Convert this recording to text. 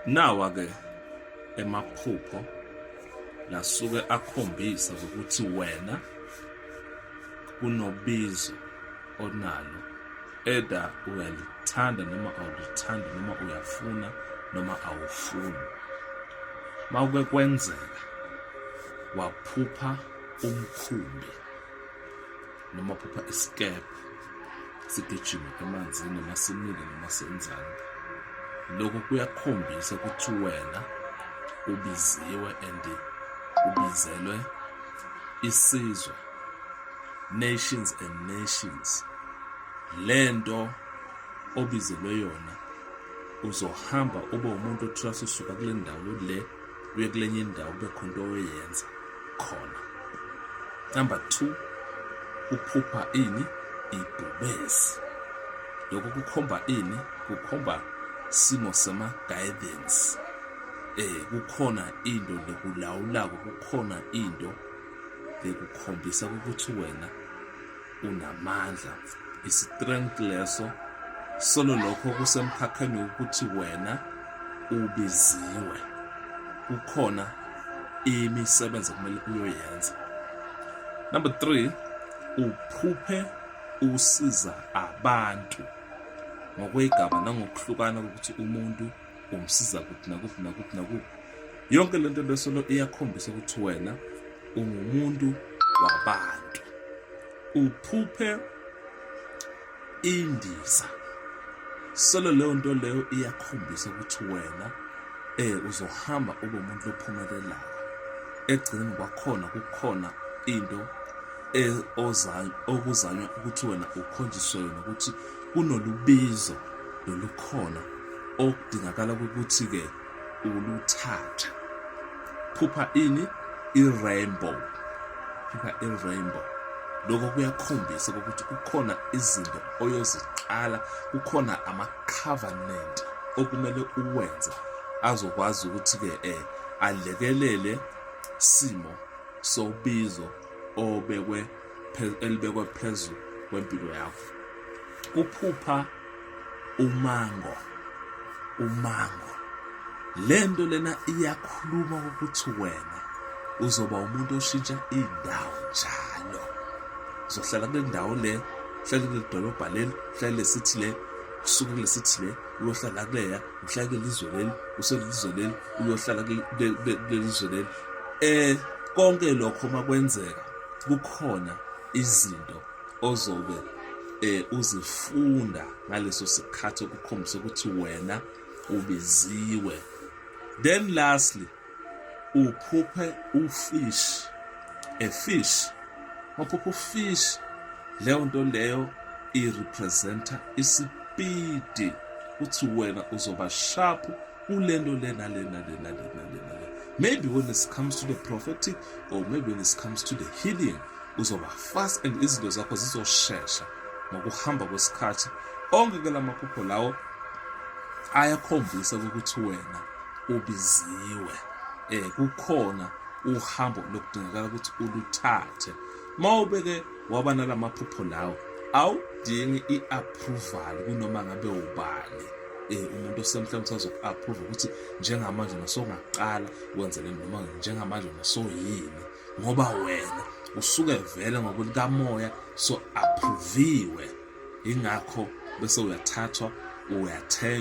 Nawa ke emaphupho lasuke akhombisa ukuthi wena kunobizo onalo either uyalithanda noma awulithandi noma uyafuna noma awufuni mawuke kwenzeka waphupha umkhumbi noma phupha isikebhe sigijima emanzini noma simile noma senzani lokho kuyakhombisa ukuthi wena ubiziwe and ubizelwe isizwe nations and nations lento obizelwe yona uzohamba ube umuntu othuka sisuka kule ndawo le uye kulenye indawo kube khona into oyenza khona number two uphupha ini ibhubesi lokho kukhomba ini kukhomba simo sama-guidance eh kukhona into lekulawulako kukhona into lekukhombisa ukuthi wena unamandla isitrength leso solo lokho kusemkhakheni wokuthi wena ubiziwe kukhona imisebenzi okumele uyoyenza number 3 uphuphe usiza abantu ngokwegaba nangokuhlukana ukuthi umuntu ungisiza kuphi nakuphi nakuphi nakuphi yonke lento lesolo iyakhombisa ukuthi wena ungumuntu wabantu uphuphe indiza solo leyo nto leyo iyakhombisa ukuthi wena eh uzohamba ube umuntu ophumelelayo egcineni kwakhona kukhona into e, okuzanywa ukuthi wena ukhonjiswe yona ukuthi kunolubizo lolukhona okudingakala ukuthi-ke uluthathe phupha ini i-rainbow phupha i-rainbow lokho kuyakhombisa ukuthi kukhona izinto oyoziqala kukhona ama-covenant okumele uwenze azokwazi ukuthi-ke um alekelele simo sobizo obekwe elibekwe phezu kwempilo yakho kuphupha umango umango lento lena iyakhuluma ukuthi wena uzoba umuntu oshintsha indawo njalo uzohlala kule ndawo le hlale kule dolobha leli hlale lesithi le kusuke kule sithi le uyohlala kuleya uhlale kulelizwe leli uselizwe leli uyohlala kulelizwe leli eh konke lokho makwenzeka kukhona izinto ozobe eh uzifunda ngaleso sikhathi okukhombisa ukuthi wena ubiziwe then lastly uphuphe ufish a fish waphupha ufish leyo nto leyo irepresenta isipidi uthi wena uzoba sharp ulento lena lena lena lena lena maybe when it comes to the prophetic or maybe when it comes to the healing uzoba fast and izinto zakho zizoshesha ngokuhamba kwesikhathi onke ke la maphupho lawo ayakhombisa ukuthi wena ubiziwe eh kukhona uhambo lokudingakala ukuthi uluthathe mawube ke waba nalamaphupho lawo awudingi i-approval kunoma ngabe ubani eh umuntu osemhlabeni usazoku-approve ukuthi njengamanje nasongaqala wenze le noma njengamanje nasoyini ngoba wena usuke vele ngokulikamoya so-approviwe yingakho bese uyathathwa uyathenjwa